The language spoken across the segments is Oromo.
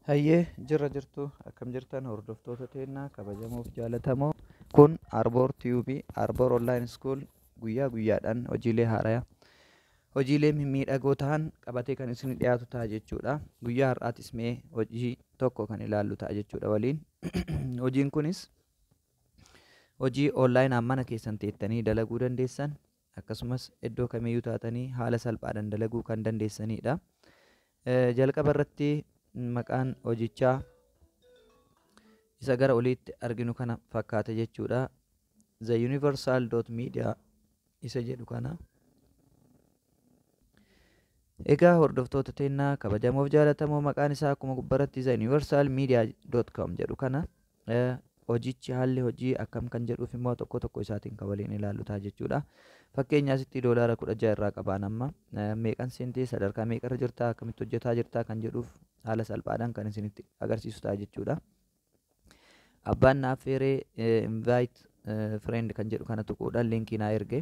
Hayyee jirra jirtu akkam jirtan hordoftoota teennaa kabajamoof jaalatamoo kun Arboor Tube Arboor Online School guyyaa guyyaadhaan hojiilee haaraya hojiilee mimmiidhagoo ta'an qabatee kan isin dhiyaatu ta'a jechuudha. Guyyaa har'aatis mee hojii tokko kan ilaallu ta'a jechuudha waliin. Hojiin kunis hojii online mana keessan teettanii dalaguu dandeessan akkasumas iddoo kamiyyuu taatanii haala salphaadhaan dalaguu kan dandeessaniidha. Jalqaba irratti maqaan hojichaa isa gara oliitti arginu kana fakkaata jechuudha. The Universal Media isa jedhu kana. Egaa hordoftoota teennaa kabajamoof jaalatamoo maqaan isaa akkuma gubbaratti The Universal Media.com jedhu kana. E. Hojichi haalli hojii akkam kan jedhuuf immoo tokko tokko isaatiin kan waliin ilaallu ta'a jechuudha. Fakkeenya asitti doolaara kudha ja'a irraa qabaan amma e, meeqan seentee sadarkaa meeqarra jirtaa akkamitti hojjetaa jirtaa kan jedhuuf haala salphaadhaan kan isinitti agarsiisu ta'a jechuudha. Abbaan na affeeree invite friend kan jedhu kana tuquudhaan liinkii naa erge.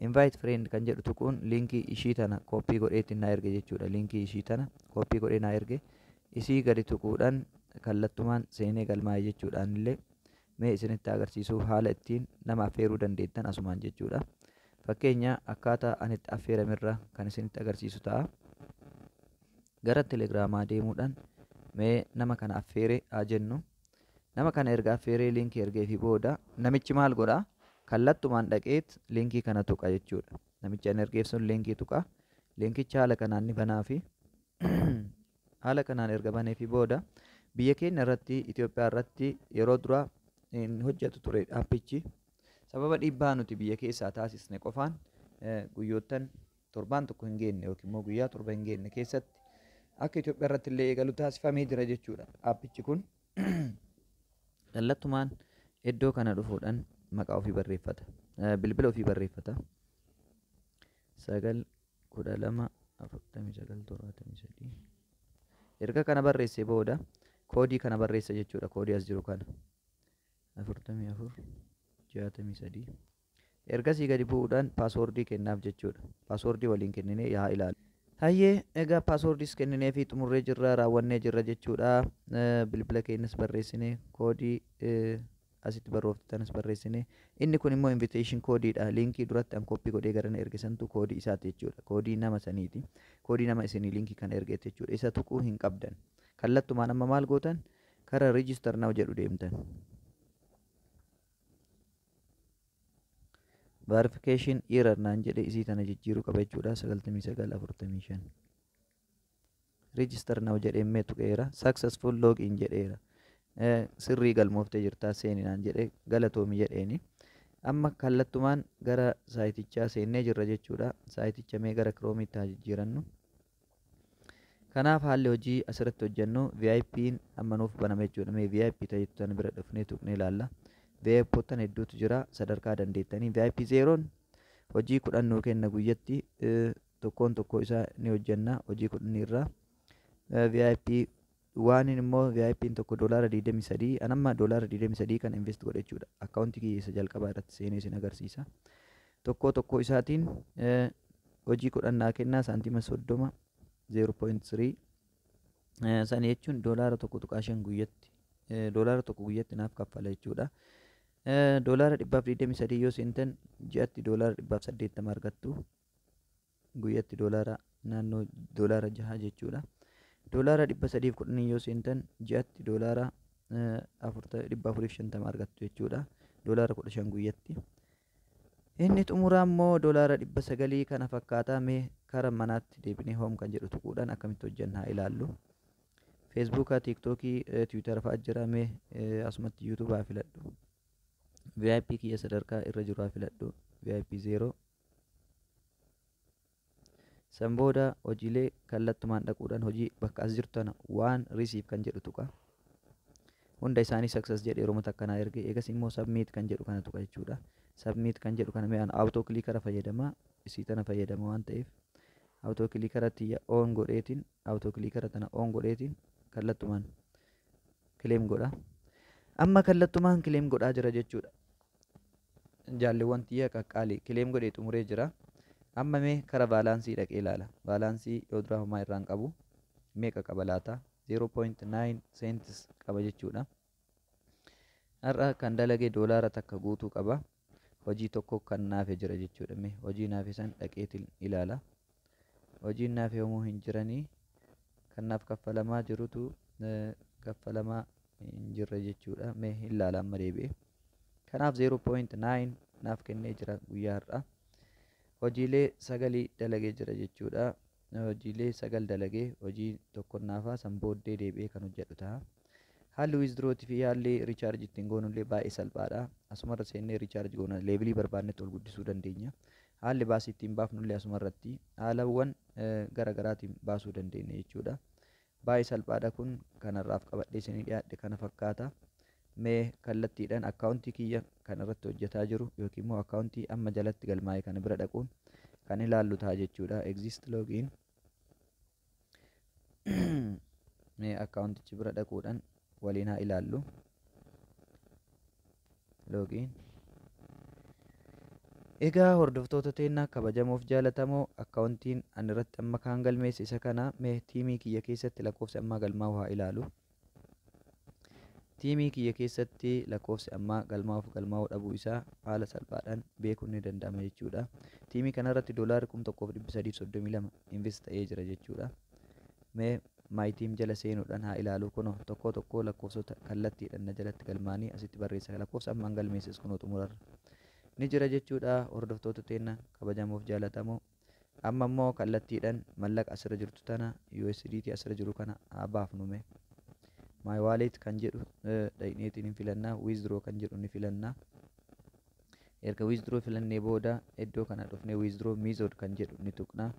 Invite friend kan jedhu tuquun liinkii ishii tana kooppii godhee ittiin naa erge jechuudha. Liinkii ishii tana kooppii godhee naa erge. Isii gadi tuquudhaan kallattumaan seenee galmaa'e jechuudha. Anillee mee isinitti agarsiisuuf haala ittiin nama affeeruu dandeettan asumaan jechuudha. Fakkeenya akkaataa ani itti affeeramerra kan isinitti agarsiisu ta'a. Gara telegiraamaa deemuudhaan mee nama kana affeere haa jennu. Nama kana erga affeeree link ergeefii booda namichi maal godha? Kallattumaan dhaqeet linkii kana tuqa jechuudha. Namichi an ergeef sun linkii tuqa. Linkicha haala kanaan ni banaafi. Haala kanaan erga baneefii booda biyya keenya irratti Itoophiyaa irratti yeroo dura hin hojjetu ture appichi. Sababa dhiibbaa nuti biyya keessaa taasisne qofaan guyyoottan torbaan tokko hin geenne yookiin immoo guyyaa torba hin geenne keessatti akka Itoophiyaa irratti illee eegalu taasifamee jira jechuudha. Aappichi kun kallattumaan iddoo kana dhufuudhaan maqaa ofii barreeffata. Eh, Bilbila ofii barreeffata. sagal kudha lama afurtamii sagal torbaatamii sadii. Erga kana barreessee booda koodii kana barreessa jechuudha. Koodii as jiru kana. afurtamii afur jaatamii sadii. Ergasii gadi bu'uudhaan password kennaaf jechuudha. Password waliin kenninee yaa ilaallu. Hayyee, egaa passwords kennineefii xumurree jirra, raawwannee jirra jechuudha. Bilbila keenyas barreessine, koodii asitti barrooftanis barreessine. Inni kun immoo invitation code dha. Liinkii duratti an copy godhee garana erge santu koodii isaati jechuudha. Koodii nama saniiti. Koodii nama isinii liinkii kana ergeeti jechuudha. Isa tuquu hin qabdan. Kallattumaan amma maal gootan? Kara register now jedhu deemtan. Verification error naan jedhe isii tana jijjiiruu qaba jechuudha 9945 register now jedhee mee tuqeera successful log in jedheera Eh, sirrii galmooftee jirtaa seeni naan jedhe galatoomi jedheeni amma kallattumaan gara saayitichaa seennee jirra jechuudha saayiticha mee gara kiroomiitti haa jijjiirannu Kanaaf haalli hojii asirratti hojjennu VIPn amma nuuf baname jechuudha. Mee VIP ta'itu tan bira dhufnee tuqnee ilaalla. VIPottan hedduutu jira sadarkaa dandeettanii. VIP zeeroon hojii kudhan nuu kenna guyyatti eh, tokkoon tokkoo isaa ni hojjenna hojii kudhanii irraa. Eh, VIP Waaniin immoo VIPn tokko doolaara 23 an amma doolaara 23 kana invest godhe jechuudha. Akkaawuntii kiyya isa jalqabaa irratti seenee isin agarsiisa. Tokkoo tokkoo isaatiin eh, hojii kudhan naa kennaa saantima 30 0.3 eh, sana jechuun doolaara 1.5 guyyatti eh, doolaara tokko guyyatti naaf kaffala jechuudha. Eh, doolaara 123 yoo seentan ji'atti doolaara 180 argattu. guyyatti doolaara naannoo doolaara jahaa jechuudha. Doolaara dhibba sadiif kudhanii yoo seentan ji'atti doolaara dhibba afuriif shantama argattu jechuudha. Doolaara kudha shan guyyatti. Inni xumuraa immoo doolaara dhibba sagalii kana fakkaataa mee kara manaatti deebinee hoom kan jedhu tuquudhaan akkamitti hojjanna haa ilaallu. Feesbuukaa, Tiiktookii, Tiwiitara fa'aa jira mee asumatti Yuutuubaa filadhu. VIP kiyya sadarkaa irra jiru haa filadhu. VIP zeeroo. San booda hojiilee kallattumaan dhaquudhaan hojii bakka as jirtu tana waan receive kan jedhu tuqa. Hunda isaanii success jedhe yeroo mata akkanaa erge eegas immoo submit kan jedhu kana tuqa jechuudha. Submit kan jedhu kana mi'aan auto clickera fayyadama isii tana fayyadama waan ta'eef auto clickera tiyya on godheetiin auto clickera tana on godheetiin kallattumaan claim godha. Amma kallattumaan claim godhaa jira jechuudha. Jaalleewwan tiyya qaqqaalii. Claim godhee xumuree jira. Amma mee kara vaalaansii dhaqee ilaala. Vaalaansii yoo duraa homaa irraa hin qabu. Meeqa qaba laata? 0.9 cents qaba jechuudha. Har'a kan dalage doolaara takka guutuu qaba. Hojii tokko kan naafe jira jechuudha. Mee hojii naafe san dhaqeetiin ilaala. hojiin naaf yoomuu hin jiranii kan naaf kaffalamaa jirutu kaffalamaa hin jirre jechuudha mee hin laala amma deebi'e kanaaf 0.9 naaf kennee jira guyyaa har'aa hojiilee sagalii dalagee jira jechuudha hojiilee sagal dalagee hojii tokkon naafaa san booddee deebi'ee kan hojjedhu ta'a haalli wiizdrooti fi haalli riichaarji ittiin goonullee baay'ee salphaadha asumarra seennee riichaarji goona leevilii barbaannetti ol guddisuu dandeenya Haalli baasii ittiin baafnullee asuma irratti haalawwan gara garaatiin baasuu dandeenya jechuudha. Baay'ee salphaadha kun kan har'aaf qabadhee isinii dhiyaadhe kana fakkaata. Mee kallattiidhaan akkaawuntii kiyya kan irratti hojjetaa jiru yookiin immoo akkaawuntii amma jalatti galmaa'e kana bira dhaquun kan ilaallu ta'a jechuudha. Exist login mee akkaawuntichi bira dhaquudhaan waliin haa ilaallu loogiin egaa hordoftoota teennaa kabajamoof jaalatamoo akkaawuntiin ani irratti amma kaan galmeesse isa kana mee tiimii kiyya keessatti lakkoofsi ammaa galmaa'u haa ilaalu Tiimii kiyya keessatti lakkoofsi ammaa galmaa'uuf galmaa'uu dhabuu isaa haala salphaadhaan beekuun ni danda'ama jechuudha. Tiimii kanarratti doolaarri 1332 invest ta'ee jira jechuudha. Mee My Team jala seenuudhaan haa ilaalu kunoo tokkoo tokkoo lakkoofsota kallattiidhaan na jalatti galmaa'anii asitti barreessa lakkoofsa ammaan galmeesses kunoo xumurarra ni jira jechuudha hordoftoota teenna kabajamoof jaalatamoo. Amma immoo kallattiidhan mallaqa asirra jirtu tana USDT asirra jiru kana haa baafnu mee. My wallet kan jedhu dhaqneetiin hin filanna. Withdraw kan jedhu ni filanna. Erga withdraw filannee booda iddoo kana dhufnee withdraw method kan jedhu ni tuqna.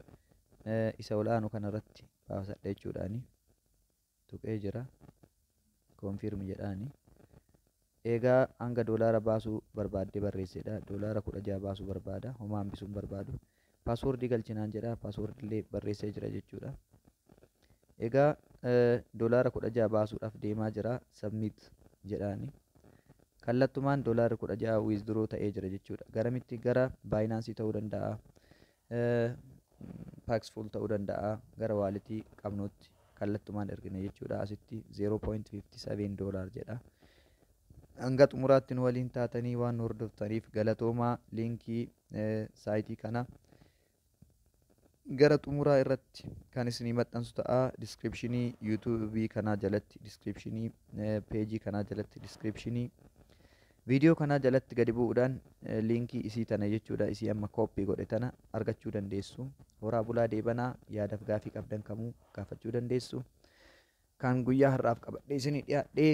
Isa ol aanu kanarratti baafasadha jechuudhaani. tuqee jira confirm jedhaani eegaa hanga doolaara baasuu barbaaddee barreessedha doolaara 16 baasuu barbaada homaa hambisuu hin barbaadu paaswoordii galchinaan jedha paaswoordii illee barreessee jira jechuudha egaa doolaara 16 baasuudhaaf deemaa jira submit jedhaani kallattumaan doolaarri 16 withdraw ta'ee jira jechuudha garamitti gara baayinaansii ta'uu danda'a Paxful ta'uu danda'a gara waalitii qabnuutti kallattumaan ergine jechuudha asitti 0.57 dollar jedha hanga xumuraatti nu waliin taatanii waan nu hordoftaniif galatoomaa liinkii saayitii kana gara xumuraa irratti kan isinii maxxansu ta'a diskiripshinii yuutuubii kanaa jalatti diskiripshinii peejii kanaa jalatti diskiripshinii Video kanaa jalatti gadi bu'udhaan liinkii isii tana jechuudha isii amma copy godhe tana argachuu dandeessu. Horaa bulaa deebanaa yaadaf gaafii qabdan kamuu gaafachuu dandeessu. Kan guyyaa har'aaf qabadhee isinii dhiyaadhee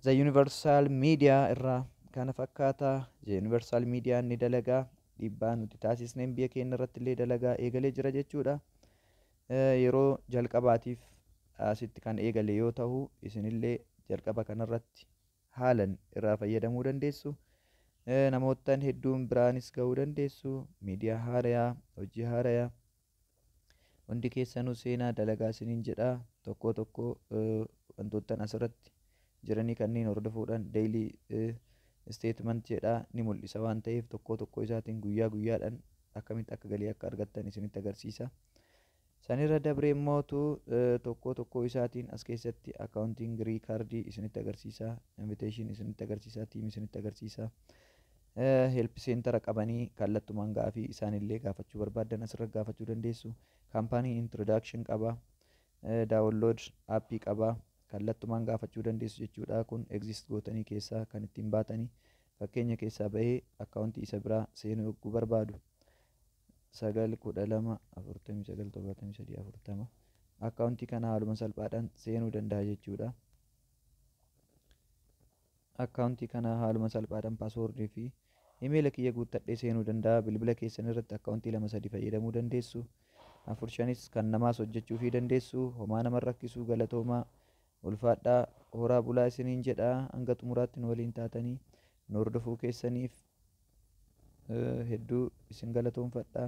The Universal Media irraa kana fakkaata. The Universal Media ni dalagaa dhiibbaa nuti taasisneen biyya keenya irratti illee dalagaa eegalee jira jechuudha. Yeroo jalqabaatiif asitti kan eegale yoo tahu isinillee jalqaba kanarratti haalan irraa fayyadamuu dandeessu. Namoottan hedduun biraanis gahuu dandeessu. Miidiyaa haarayaa, hojii haarayaa. Hundi keessanuu seenaa dalagaa isiniin jedha. Tokkoo tokkoo wantoottan asirratti jiranii kanneen hordofuudhaan deeylii isteetment jedha ni mul'isa waan ta'eef tokkoo tokkoo isaatiin guyyaa guyyaadhaan akkamitti akka galii akka argattan isinitti agarsiisa. Sanirra dabree immoo tu tokkoo tokkoo isaatiin as keessatti accounting record isinitti agarsiisa, invitation isinitti agarsiisa, team isinitti agarsiisa. Eh, help center qabanii kallattumaan gaafii isaanillee gaafachuu barbaaddan asirra gaafachuu dandeessu. Company introduction qaba, eh, download app qaba, kallattumaan gaafachuu dandeessu jechuudha. Kun exist gootanii keessaa kan ittiin baatanii fakkeenya keessaa bahee akkaawuntii isa biraa seenuu yogguu barbaadu. 9 12 49 73 40 akkaawuntii kana haaluma salphaadhaan seenuu danda'a jechuudha. Akkaawuntii kana haaluma salphaadhaan paaswoordii fi imeela kiyya guuttadhee seenuu danda'a. Bilbila keessan irratti akkaawuntii lama sadi fayyadamuu dandeessu. Afur shanis kan namaas hojjechuufii dandeessu. Homaa nama rakkisuu galatoomaa. Ulfaadhaa, horaa bulaa isiniin jedha. Hanga xumuraatti nu waliin taatanii nu hordofuu keessaniif hedduu isin galatoomfadha.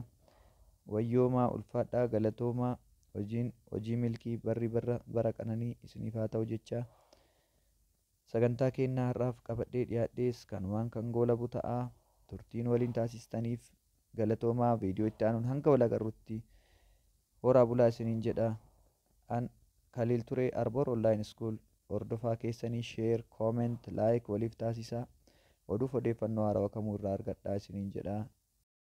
Wayyoomaa ulfaadhaa galatoomaa hojiin hojii milkii barri barra bara qananii isiniif haa ta'u jechaa. Sagantaa keenya har'aaf qabadhee dhiyaadhees kanumaan kan goolabu ta'a. Turtiin waliin taasistaniif galatoomaa viidiyoo itti aanuun hanga wal agarrutti horaa bulaa isiniin jedha. An Khalil Ture Arbor Online School Hordofaa keessani Share, Comment, Like waliif taasisaa. Oduuf odeeffannoo haarawa kamuu irraa argadhaa isiniin jedha.